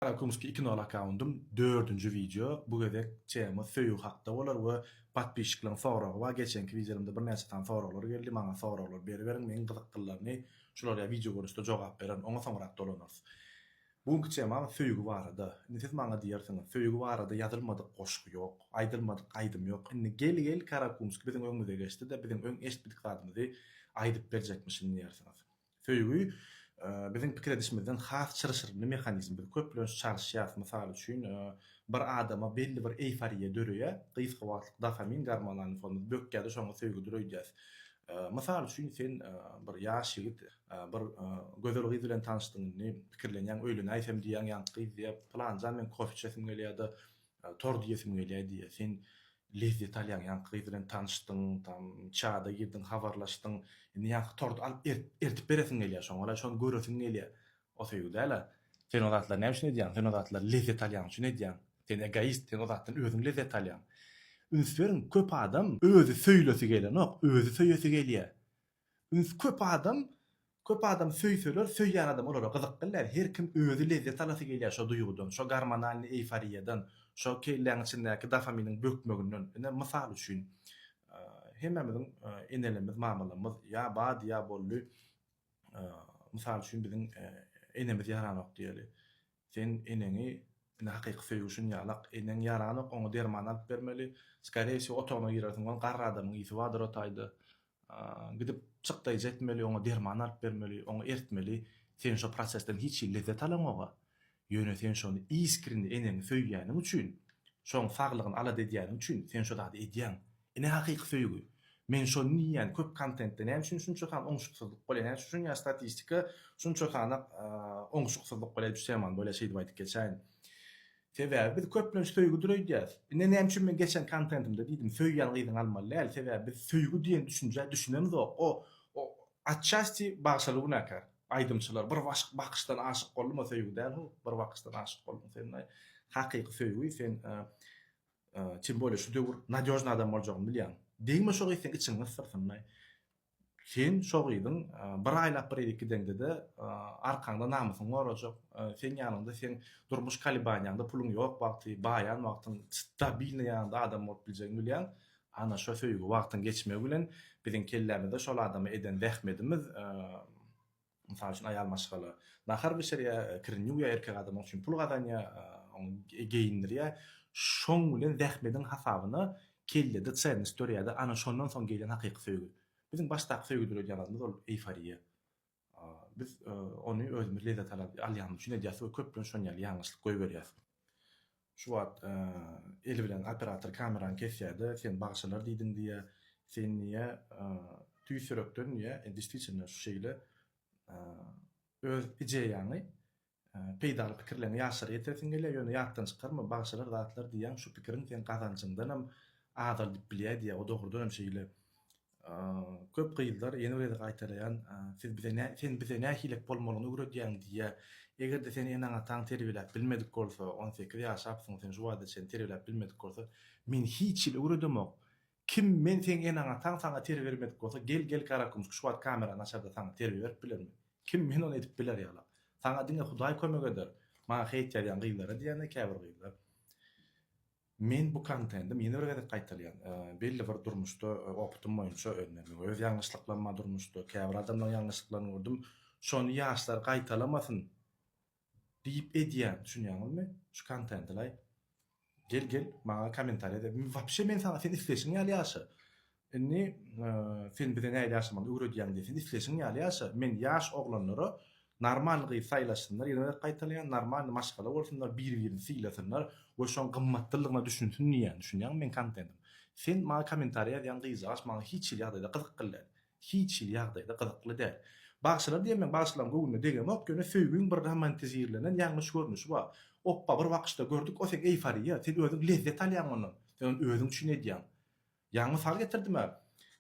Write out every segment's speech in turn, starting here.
Karakumski iki nol akkaundym dördünji wideo bu gezek tema söýgi hakda bolar we patpisçikleriň soragy bar geçenki wideolarymda birnäçe sany soraglar geldi maňa soraglar beriberiň meň gyzyklylaryny şulara wideo görnüşde jogap bererin oňa soňrak dolanarys bu günki temam söýgi barada indi siz maňa diýersiňiz söýgi barada ýazylmadyk goşgy ýok aýdylmadyk aýdym ýok indi gel gel karakumski biziň öňümize geçdi-de biziň öň eşitmedik zadymyzy aýdyp berjekmişin diýersiňiz Söýgi, biziň pikir edişimizden has çylşyrymly mehanizm. Biz köplenç çalyşýarys, mysal üçin, bir adama belli bir eýforiýa döreýär, gysga wagtlyk dofamin gormonlaryny fonumyz bökýär-de, şoňa söýgüdir öýdýäris. Mysal üçin, sen bir ýaş ýigit, bir gözel gyz bilen tanyşdyň, indi pikirlenýäň, öýlenäýsem diýýäň, ýaňky gyz diýýär, Pylanjan, meň kofe içesim gelýär-de, Tor diýesim gelýär diýýär. Sen lezzet alýaň, ýaňky gyz bilen tanyşdyň, tam çada girdiň, habarlaşdyň. Indi ýaňky torty alyp ertip beresiň gelýär, şoňa-la şony göresiň gelýär. O söýgi däl-ä. Sen o zatlary näme üçin edýäň? Sen o zatlary lezzet alýan üçin edýäň. Sen egoist, sen o zatdan özüň lezzet alýaň. Üns beriň, köp adam özi söýlesi gelenok, özi söýesi gelýär. Üns köp adam köp adam söýseler söýýän adam olara gyzyk bilýär her kim özi lezzet alasy gelýär şo duýgudan şo gormonalnyý eýforiýadan şo kelläň içindäki dofaminiň bökmeginden ine mysal üçin hemmämiziň enelerimiz mamalarymyz ýa bady ýa boldy mysal üçin biziň enemiz ýaranok diýeli Sen eneňi indi hakyky söýgi üçin ýalak, eneň ýaranok oňa derman alyp bermeli, skareye wsýo otagyna girersiň ol garry adamyň ýiti bardyr o taýda, gidip çykdaýjy etmeli oňa derman alyp bermeli, oňa ertmeli, sen şo prosesden hiç hili lezzet alaňoga, ýöne sen şony iskrini eneňi söýýäniň üçin, şoň saglygyny alada edýäniň üçin sen şo zady edýäň, Ine hakyky söýgi. Men şony diýýän köp kontentde näme üçin şunça san oňuşyksyzlyk bolýar näme üçin şunýa statistika şunça sana oňuşyksyzlyk bolýar diýip şeýman bolýar şeýdip aýdyp geçäýin. Sebäbi biz köplenç söýgüdir öýdýäs. Ine näme üçin men geçen kontentimde diýdim söýýän gyzyňy almaly däl sebäbi biz söýgi diýen düşünjä düşünemzok o o atçasti bagşaly günäkär aýdymçylar bir başyk bakyşdan aşyk boldum o söýgi däl ho bir bakyşdan aşyk boldum sen hakyky söýgi sen Tim bolýa şu döwür nadýožny adam boljagyny bilýäň. Degme şo gyz seň içiňi gysdyrsynlaý. Sen şo gyzyň bir aýlap bir edik gideňde-de arkaňda namysyňy gorajak, seň ýanyňda seň durmuş kalibaniýaňda puluň ýok wagty, baýan wagtyň stabilnyý ýanyňda adam bolup biljegini bilýäň. Ana şo söýgi wagtyň geçmegi bilen biziň kellämizde şol adama eden zähmedimiz, Mysal üçin, aýal maşgala nahar bişirýär, kirini ýuwýar, erkek adam onuň üçin pul gazanýar, ony geýindirýär. Şoň bilen zähmediň hasabyna kellede çenность dörýär-de, ana, şondan soň gelýän hakyky söýgi. Biziň başdaky söýgi döredýänimiz ol eýforiýa. Biz ony özümiz lezzet alýanymyz üçin edýäris we köplenç şony ýaly ýalňyşlyk goýberýäris. Şu wagt eli bilen operator kamerany kesýärde sen bagşalar diýdiň diýýä sen diýýä tüýs ýürekden diýýä destiçinno şu şeýle öz ideýaňy peýdaly pikirleňi ýaşlara ýetiresiň gelýä ýöne ýatdan çykarma bagşalar zatlar diýýäň şu pikiriň seň gazanjyňdanam azaldyp bilýä diýýä o dogrudanam şeýle Köp gyzlar ýene bir gezek gaýtalaýan, siz bize nä, sen bize nähilek bolmalyny öwredýäň diýýär. Eger-de seni eneň-ataň terbiýeläp bilmedik bolsa, on sekiz ýaşapsyň, seni şu wagta çenli terbiýeläp bilmedik bolsa, men hiç hili öwredemok. Kim men seň eneň-ataň saňa terbiýe bermedik bolsa, gel, gel Garakümüş, şu wagt kamerany açar-da saňa terbiýe berip bilermi? Kim men ony edip biler ýaly? Saňa diňe Hudaý kömek eder. Maňa heýt ýazýan gyzlara diýýän-de käbir gyzlar. Men bu kontentim ýene bir gezek gaýtalýan, belli bir durmuşda opytym boýunça öňlerden öz ýalňyşlyklaryma durmuşda käbir adamlaryň ýalňyşlyklaryny gördüm, şony ýaşlar gaýtalamasyn diýip edýän, düşünýäňizmi? Şu kontentilaý gel gel maňa komentariýa de, wapşe men saňa sen isleýşiň ýaly ýaşa, Indi sen bize nähili ýaşamagy öwredýäň diýen. Sen isleşiň ýaly ýaşa. Men ýaş oglanlara normalny gyz saýlasynlar, ýene gezek gaýtalaýan, normalny maşgala bolsunlar, bir-birini sylasynlar we şoň gymmatlylygyna düşünsin diýýän. Düşünýäňmi meň kontentim? Sen maňa kommentariýa ýazýan gyzjagaç maňa hiç hili ýagdaýda gyzykly däl. Hiç hili ýagdaýda gyzykly däl. Bagşylar diýen meň bagşylaryň göwnüne degemok, ýöne söýgiň bir romantizirlenen ýalňyş görnüşi bar. Opba bir wakyşda gördük, o seň eýforiýa, sen özüň lezzet alýaň ondan. Sen ony özüň üçin edýäň. Ýaňy mysal getirdim-ä.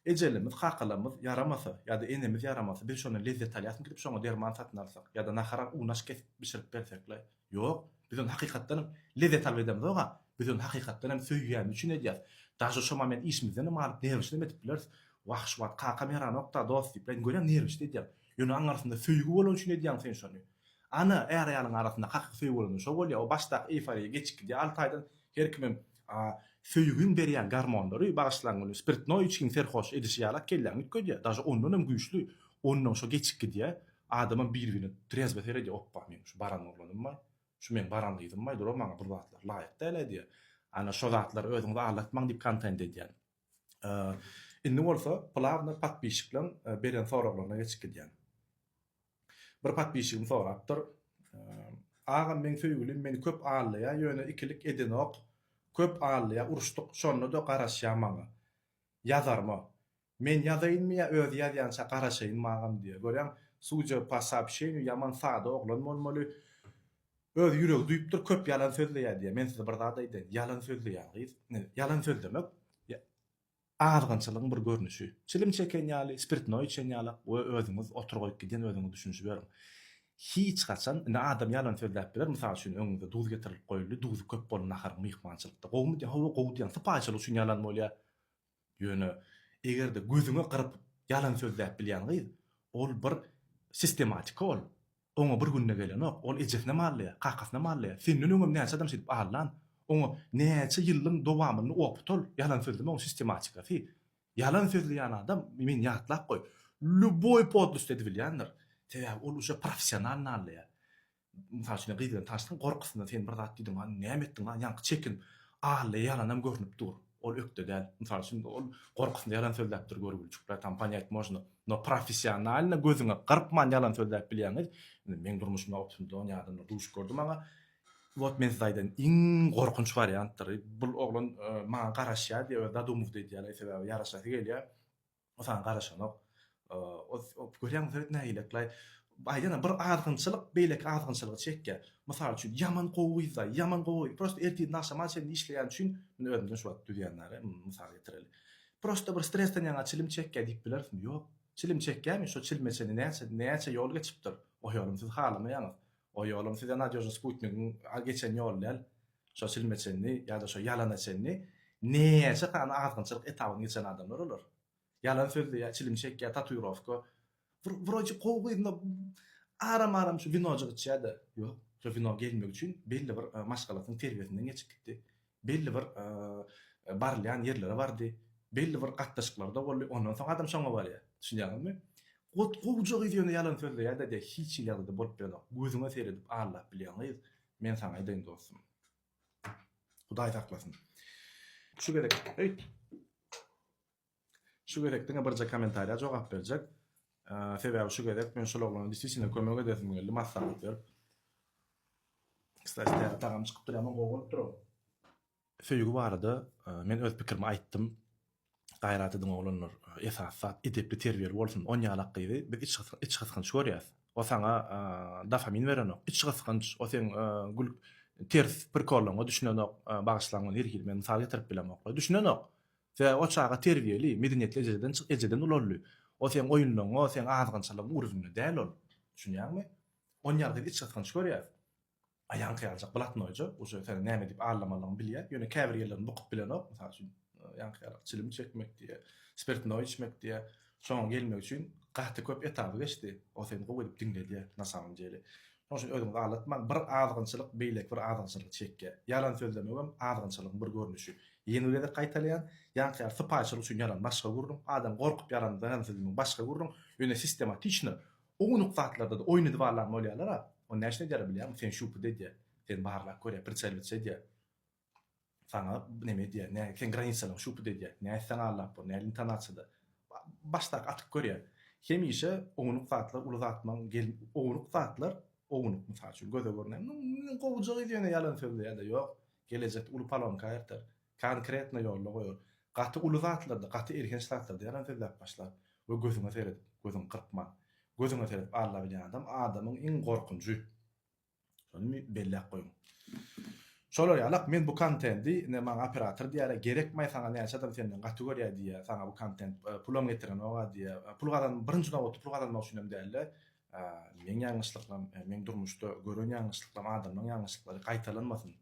Ejelerimiz, kakalarymyz ýaramasa, ýa-da enemiz ýaramasa, biz şondan lezzet alýasmyk diýip şoňa derman satyn alsak, ýa-da nahara unaş kesip bişirip bersekle? Ýok. Biz ony hakykatdan lezzet alyp edemzog-a. Biz ony hakykatdan hem söýýänimiz üçin edýäs. Daže şoma men işimizden hem alyp, nerwişli hem edip bileris. Wah, şu wagt kakam ýaranok-da, dost diýip, men görýän nerwişli edýän. Ýöne onuň arasynda söýgi bolany üçin edýäň sen şony. Ana, är-aýalyň arasynda hakyky söýgi bolanda şo bolýar. O başdaky eýforiýa geçip gidýär alty aýdan. Her kimem A söýgiň berýän garmonlary bagyşlan güni spirtnoý içgiň serhoş edişi ýalak kelläňi üýtgedýär, daže ondan hem güýçli, ondan şo geçip gidýär, adamam bir-birine trezbe seredýär, opba meň şu baran oglanymbaý, şu meň baran gyzymbaý dur-a maňa bul zatlar laýyk däl-ä diýýär. Ana şo zatlary özüňizi aldatmaň diýip kontent edýän. Indi bolsa plawno podpişikleň beren soraglaryna geçip gidýän. Bir podpisçigim sorapdyr. Agam meň söýgülim meni köp allaýa ýöne ikilik edenok köp allaýa uruşdyk şondada garaşýa maňa ýazarma men ýazaýynmy ýa özi ýazýança garaşaýynmy agam diýýä görýäň sudja pa soobşeniýu ýaman sada oglan bolmaly öz ýüregi duýupdyr köp ýalan sözleýä diýýä men size bir zat aýdaýyn ýalan sözleýän gyz ýalan sözlemek azgynçylygyň bir görnüşi. Çilim çeken ýaly, spirtnoý içen ýaly we özüňiz otur goýup giden özüňiz düşünişiberiň. Hiç haçan, indi adam ýalan sözläp biler, mysal üçin öňüňize duz getirilip goýuldy, duzy köp boldy naharyň myhmançylykda. Gowumy diýýär, hawa gowy diýýän, sypaýyçylyk üçin ýalan bolýar. Ýöne eger-de gözüňe gyryp ýalan sözläp bilýän gyz, ol bir sistematika ol. Oňa bir günde gelenok, ol ejesine mallaýar, kakasyna mallaýar. Senden öňem näçe adam şeýdip allan. Oňa näçe ýyllyň dowamynda opt ol, ýalan sözleme oň sistematikasy. Ýalan sözleýän adam, meni ýatlap goý, lýuboý podlosty edibilýändir. Sebäbi ol uje professional nallaýar. Mysal üçin gyz bilen tanyşdyň, gorkusyndan sen bir zat diýdiň, näme etdiň, ýaňky çekinip allaýar ýalanam görnüp dur. Ol ökde däl. Mysal üçin, ol gorkusynda ýalan sözläpdir görgüliçikler, tam ponyat mozno. No professionalno gözüňe gyrpman ýalan sözläp bilýäňiz. Indi meň durmuşymda optimdon ýadymda duş gördi maňa. Wot men size aýdan iň gorkunç wariantdyry. Bul oglan maňa garaşýar diýip öz zadumowda edýär, sebäbi ýaraşasy gelýär. Saňa garaşanok. Görýäňmi Söwet nägileklaý. Aýdana bir azgynçylyk beýleki azgynçylygy çekýär. Mysal üçin ýaman gowyzda, ýaman gowy. Prosta ertirden agşama çenli işleýän üçin, men özümden şu wagt düzýän däli, mysal getireli. Prosta bir stresden ýaňa çilim çekýär diýip bilerismi? Ýok. Çilim çekýärmi? Şo çilime çenli näçe, näçe ýol geçipdir. O ýolum siz halamaýaňyz. O ýolum size nadýožny sputnigiň geçen ýoly däl. Şo çilme çenli ýa-da şo ýalana çenli näçe sany azgynçylyk etabyny geçen adamlar olar. Ýalan sözleýär, çilim çekýär, tatuirowka. Bir wroji gowy gyzynda aram-aram şu winojyk içýär-de. Ýok, şo wino gelmek üçin belli bir maşgalasynyň terbiýesinden geçip gitdi. Belli bir barylýan ýerlere bardy. Belli bir gatnaşyklarda boldy. Ondan soň adam şoňa barýar. Düşünýäňizmi? Gowja gyz ýöne ýalan sözleýär-de diýýär. Hiç hili ýagdaýda bolup bilenok. Gözüňe seredip allap bilýän gyz Men saňa aýdaýyn dostum. Hudaý saklasyn. Şu gezek, eý. Şu gezek diňe birje kommentariýa jogap berjek. Sebäbi şu gezek men şol oglana disisine kömek edesim geldi, maslahat berip. Kstati, tagam çykypdyr, ýaman gowy bolupdyr o. Söýgi barada men öz pikirimi aýtdym. Gaýrat ediň oglanlar, esasy zat edepli terbiýeli bolsun. On ýalak gyzy biz iç gysgynç görýäs. O saňa dofamin berenok. Iç gysgynç, o seň gül ters prikollaryňa düşünenok. Bagyşlaň muny her hili men mysal getirip bilemok. Düşünenok. Sebäbi o çaga terbiýeli, medeniýetli ejeden ejeden ulaldy. O seň oýunlaryňa, seň azgynçylygyň ugrunda däl ol. Düşünýäňmi? On ýalak gyzy iç gysgynç görýäs. Aýaňky ýaljak blatnoýja, uje seniň näme edip allamalygyňy bilýär. Ýöne käbir ýerlerini bukup bilenok, mysal üçin, ýaňky ýalak çilim çekmek diýýär, spirtnoý içmek diýýär. Şoňa gelmek üçin gaty köp etaby geçdi. O seni gowy edip diňledýär, na samom dele. Şonuň üçin özüňizi aldatmaň. Bir azgynçylyk beýleki bir azgynçylygy çekýär. Ýalan sözlemegem azgynçylygyň bir görnüşi. Ýene bir gezek gaýtalaýan, ýaňky ýaly sypaýyçylyk üçin ýalan başga gürrüň, adam gorkup ýalan ýalan sözlemegiň başga gürrüň, ýöne sistematiçno Ownuk zatlarda-da oýun edip alan bolýarlar-a. Ony näçe edýärler bilýärmi? Seni şupuda edýär. Seni barlap görýär, pritseliwatç edýär. Saňa neme edýär, nä, seň granisalaryňy şupuda edýär. Nä etseň allap bor, näl intonasiýada. Başdaky atyp görýär. Hemişe ownuk zatlar uly zatmaň gel, ownuk zatlar, ownuk, mysal üçin, göze görünýän, Gowja gyz ýöne ýalan sözleýär-de, ýok, gelejekde uly palonka aýyrtar. Konkretno ýolda goýar. Gaty uly zatlarda, gaty elhenç zatlarda ýalan sözläp başlar we gözüňe seredip, gözüňi gyrpman, gözüňe seredip alla bilýän adam adamyň iň gorkunjy. Şony belläp goýuň. Şolar ýalak men bu kontendi ine maňa operator diýýärä gerekmaý saňa näçe adam senden gaty görýä diýýä saňa bu kontent pulam getirenogä diýýä pul gazan birinji nobatda pul gazanmak üçin hem dälde meň ýalňyşlyklarym meň durmuşda gören ýalňyşlyklarym adamlaryň ýalňyşlyklary gaýtalanmasyn.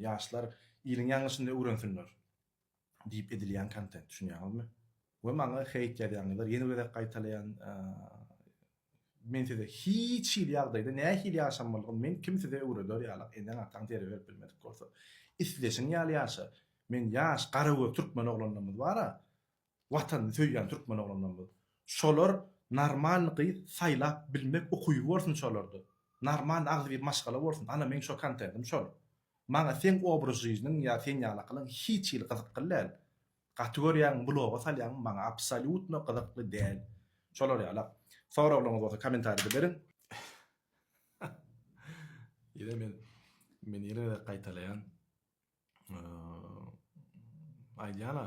Ýaşlar iliň ýalňyşyny öwrensinler diýip edilýän kontent düşünýäňizmi? We maňa heýt ýazýaňyzlar ýene bir gezek gaýtalaýan men size hiç hili ýagdaýda nähili ýaşamalygyny men kim size öwreder ýalak eneň ataň zerre berip bilmedik bolsa isleşiň ýaly ýaşa men ýaş garagöz türkmen oglanlarymyz bara Watanyny söýýän türkmen oglanlarymyz. Şolar normalny gyz saýlap bilmek ukyby bolsun şolarda. Normalny agzybir maşgala bolsun. Ana meň şo kontentim şol. Maňa seň obraz žyžnyň ýa sen ýalakylyň hiç hili gyzykly däl. Gaty görýäňmi bloga salýaňmy maňa absolýutno gyzykly däl. Şolar ýalak. Soraglaryňyz bolsa komentarida beriň. Ýene men men ýene gaýtalaýan. aýdýana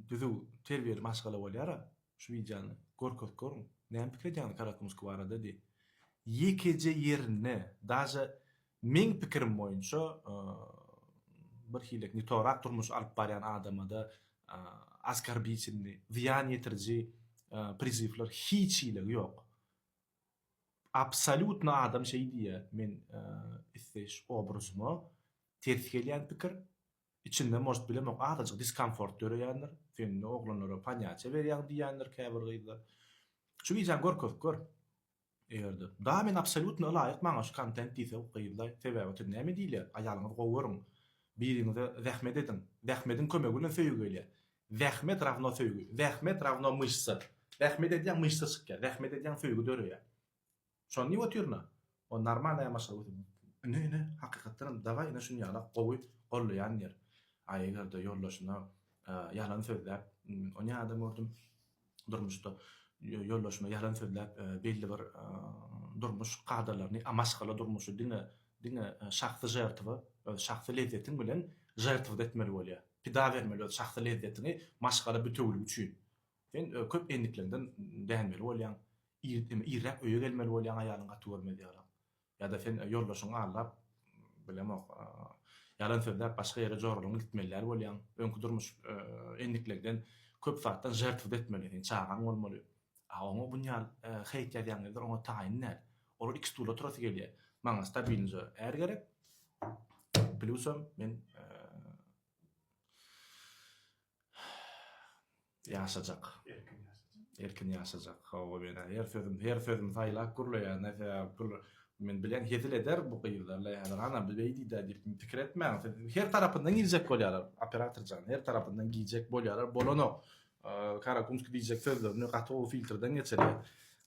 düzüw terbiýeli maşgala bolýara şu wideony görkezip görüň näme pikir edýäňiz karakumuski barada diý ýekeje ýerinde daže meň pikirim boýunça bir hilek nitorak durmuş alyp barýan adamada askarbitelni zyýan ýetiriji prizywlar hiç hili ýok Absolýutno adam şeý diýýä men isleýiş obrazyma ters gelýän pikir içinde может bilemok azajyk diskomfort döreýändir sen indi oglanlara panýaçe berýäň diýýändir käbir gyzlar şu wideony görkezip gör egerde da men absolýutno ylaýyk maňa şu kontent diýse gyzlaý sebäbi otyr näme diýilýär aýalyňyzy gowy görüň biriňize zähmet ediň zähmediň kömegi bilen söýgi gelýär Zähmet rawno söýgi. Zähmet rawno myşsa. Zähmet edýäň myşsa çykýar. Zähmet edýäň söýgi döreýär. Şony diýip otyryn-a. O normalny ýamaşga götür. Ine ine hakykatdanam daway ine şuny ýala gowy gollaýan diýer. A eger-de ýoldaşyna ýalan sözläp ony ýa adam gördüm. durmuşda ýoldaşyma ýalan sözläp, belli bir durmuş kadalaryny, a maşgala durmuşy diňe, diňe şahsy žertwa, öz şahsy lezzetiň bilen žertwada etmeli bolýar. Pida bermeli öz şahsy lezzetiňi maşgala bitewiligi üçin. Sen köp endikleňden dänmeli bolýaň. Ir, irräk öýe gelmeli bolýaň aýalyň gaty görmez ýalam. Ýa-da sen ýoldaşyňy aldap, bilemok, ýalan sözläp başga ýere joralaňy gitmelidäl bolýaň. Öňki durmuş endiklegden köp zatdan žertwda etmeli. Seň çagaň bolmaly. A oňa bunýal heýt ýazýaň ýerler oňa taýyn däl. Olar iki stula turasy gelýä. Maňa stabilnja är gerek. Plusam men Ýaşajak. Erkin ýaşajak. Erkin ýaşajak. Hawa men her sözüm, her sözüm saýlap gürleýär. Näse gül men bilen hezil eder bu gyzlarla häzir ana bu beýdi de diýip pikir etmäň. Her tarapyndan giýjek bolýarlar. Operator jan, her tarapyndan giýjek bolýarlar. Bolanok. Karakumski diýjek sözlerini gaty gowy filtrden geçirýär.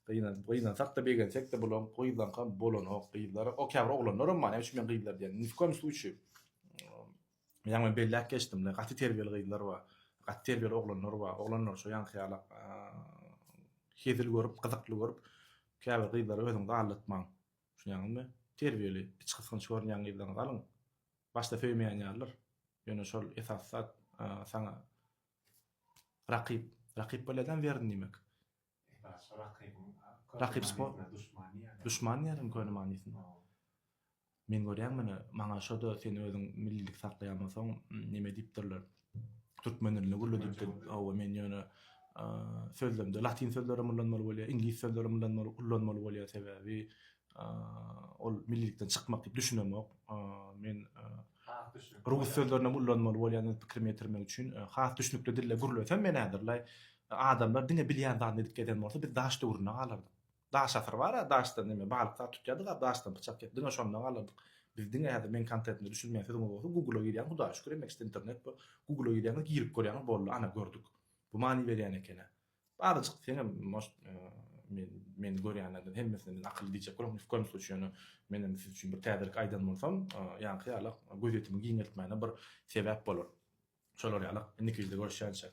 Gynan, gynansak da begensek de bulan gyzlaň kam bolanok. Gyzlar, o käbir oglanlar hem bar. Näme üçin men gyzlar diýen? Ni w kom sluçýe. Ýaňy belläp geçdim-le, gaty terbiýeli gyzlar bar, gaty terbiýeli oglanlar bar. Oglanlar şo ýaňky ýala hezil görüp, gyzykly görüp, käbir gyzlary özüňizi aldatmaň. Düşünýäňizmi? Terbiýeli, içgysgynç görünýän gyzlaryňyzy alyň. Başda söýmeýän ýalydyr. Ýöne şol esasy zat saňa rakyp. Rakyp bolýada-m weryn diýmek. Rakyp sport. Duşman diýýärin köne manysynda. Men görýän muny, maňa şo-da sen özüň millilik saklaýan bolsaň, neme diýipdirler, türkmen dilini gürledipdir. Hawa, men ýöne sözlemde latyn sözlerem ullanmaly bolýar, iňlis sözlerem ullanmaly bolýar, sebäbi ol millilikden çykmak diýip düşünemok. Men rus sözlerini ullanmaly bolýan pikirimi ýetirmek üçin. Has düşnükli dilde gürlesem men häzir laý adamlar diňe bilýän zadyny edip gezen bolsa biz daş döwründe galardyk. Daş asyr bar-a, daşdan näme balyk sag tutýardyk-a, daşdan pyçak ýek diňe şonda galardyk. Biz diňe häzir men kontetine düşünmeýän sözüňiz bolsa Google-a girýän Hudaýa şükür emmek üçin internet bu. Google-a girýäňiz girip görýäňiz boldy ana gördük. Bu many berýän eken-ä. Baryjyk seňem может men meni görýänlerden hemmesine men akylly diýjek bolar ni w koýum sluçy ýöne menem siz üçin bir täzelik aýdan bolsam ýaňky ýaly gözýetimi giňeltmäne bir sebäp bolar şolar ýaly indiki wideoda görüşýänçä.